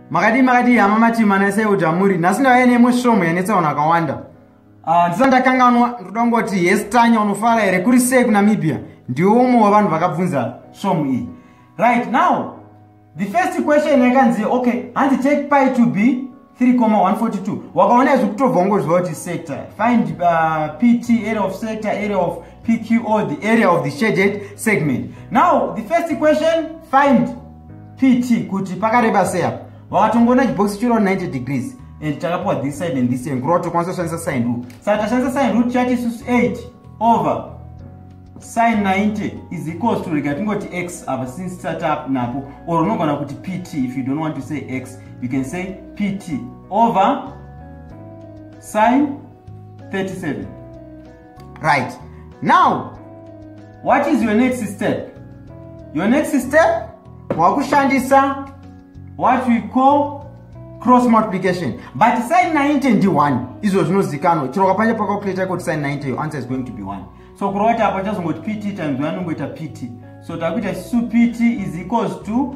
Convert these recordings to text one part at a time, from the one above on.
makadii makadii hama matima naisaiuti amuri nhasi ndauya neimwe svomhu yanetsaona akawanda ah, ndisa ndakanganwa ndoda kungoti yes tanya unofara here kuri sei kunamibia ndiwe umwe wevanhu vakabvunza svomhu iyi right now the first question yakanzi okay hanzi take pi to be 3,142 wakaona izvi kutobva ungoziva kuti sector find uh, pt area of sector area of pqo the area of the shaded segment now the first question find pt kuti pakareba sei apa wakatongoona chibhokisi chiro 90 degrees and takapiwa this side and this angle kuti tokwanisa kushandisa sine rule saka tashandisa sine rule tichati isusu 8 over sine 90 is equals to rega tingoti x apa since tisati napo or unogona kuti pt if you don't want to say x you can say pt over sine 37 right now what is your next step your next step wakushandisa what we call cross multiplication but sin 90 ndi 1 izvo zvinozikanwa chero kapanja pakakuleta ikoti sin 90 your answer is going to be 1 so kurova kuti apa chazongoti pt times 1 unongoita pt so takuita su pt is equals to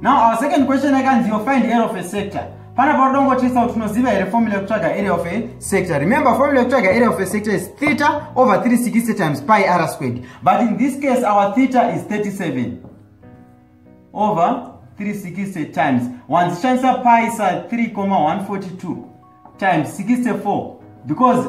now our second question yakanzi yo find area of a sector pana paudongotisa kuti unoziva here formula yekutsvaga area of a sector remember formula yekutsvaga area of a sector is theta over 360 times pi r squared but in this case our theta is 37 over 360 times wanzishandisa pi sa 3 142 times 64 because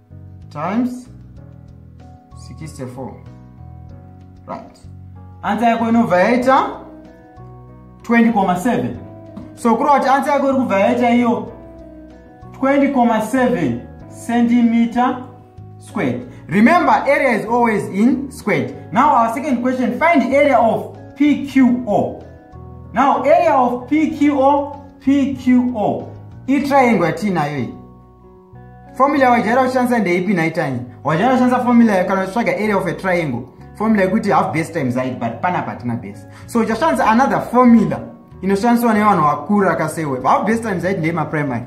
times 64 right ansa yako inobva yaita 20,7 so kureva kuti ansa yako iri kubva yaita iyo 20,7 centimeter squared remember area is always in squared now our second question find the area of pqo now area of pqo pqo itriangle yatiinayo iyi formula wajaira kushandisa ndeipi nhaitanya wajaira kushandisa formula kana uchitsvaga area of a triangle formula yekuti half base time zaid but pana patina base so uchashandisa another formula inoshandiswa nevanhu vakuru akasewe half base time zaid ndeyemaprimary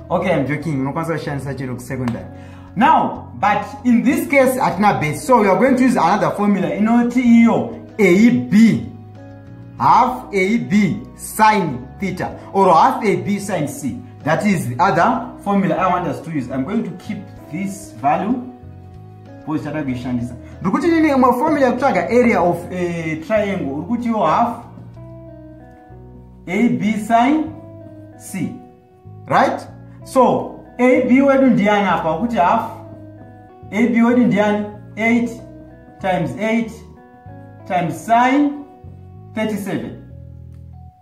okay im joking unokwanisa kushandisa chero kusecondary now but in this case hatina base so weare going to use another formula inoti iyo ab half ab sin theta or half ab sin c That is the other formula I want us to use. I'm going to keep this value for each other kuishandisa. Ndikuti nini imwe formula yekutsvaga area of a triangle uri kuti yo half AB sin C. Right? So AB wedu ndiani apa ukuti half AB wedu ndiani 8 times 8 times sin 37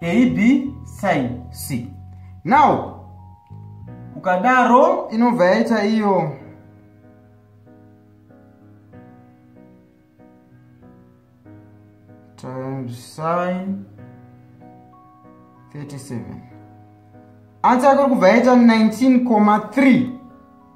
ab sin c now ukadaro inobva yaita iyo times sin 37 ansa yako iri kubva yaita 19,3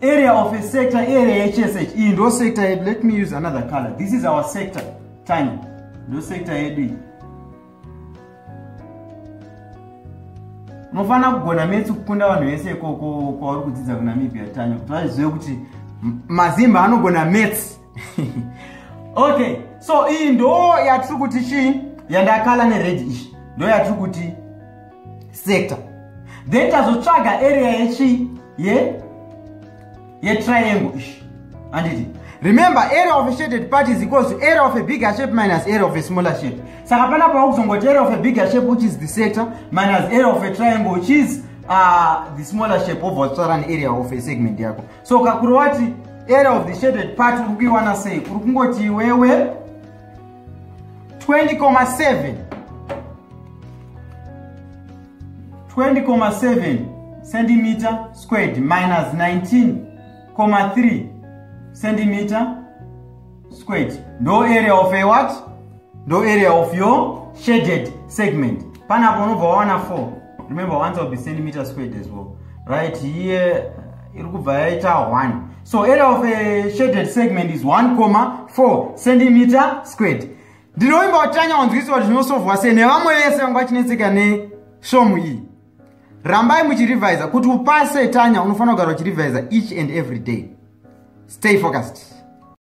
area of a sector area yechese ichi iyi ndo sector yedu let me use another color this is our sector tiny ndo sector yedu iyi unofanira kugona metsi kukunda vanhu vese ikoko kwauri kudzidza kunamibia tiny kuti vazive kuti mazimba anogona metsi okay so iyi ndo yatiri kuti chii yandakala nered izvi ndo yatiri kuti sector then tazotsvaga area yechii ye yetriangle izvi anditi remember area of a shaded part is equals to area of a bigger shape minus area of a smaller shape saka pana pava kuzongoti area of a bigger shape which is the sector minus area of a triangle which is uh, the smaller shape obva watsvara nearea of a segment yako so kakuru wati area of the shaded part uri kuiwana sei kuri kungoti iwewe 20,7 20,7 centimeter squared minus 19,3 centimeter squared ndo area of a what ndo area of your shaded segment panapo unobva wawana 4 remember once i'll be centimeter squared as well right here iri kubva yaita 1 so area of a shaded segment is 1 comma 4 centimeter squared ndinovimba kuti tanyawanzwisiwa zvinosovhwa se nevamwe vese vanga vachinetseka neshomu iyi rambai muchirevisa kuti upase tanya unofanira kugara uchirevisa each and every day stay focused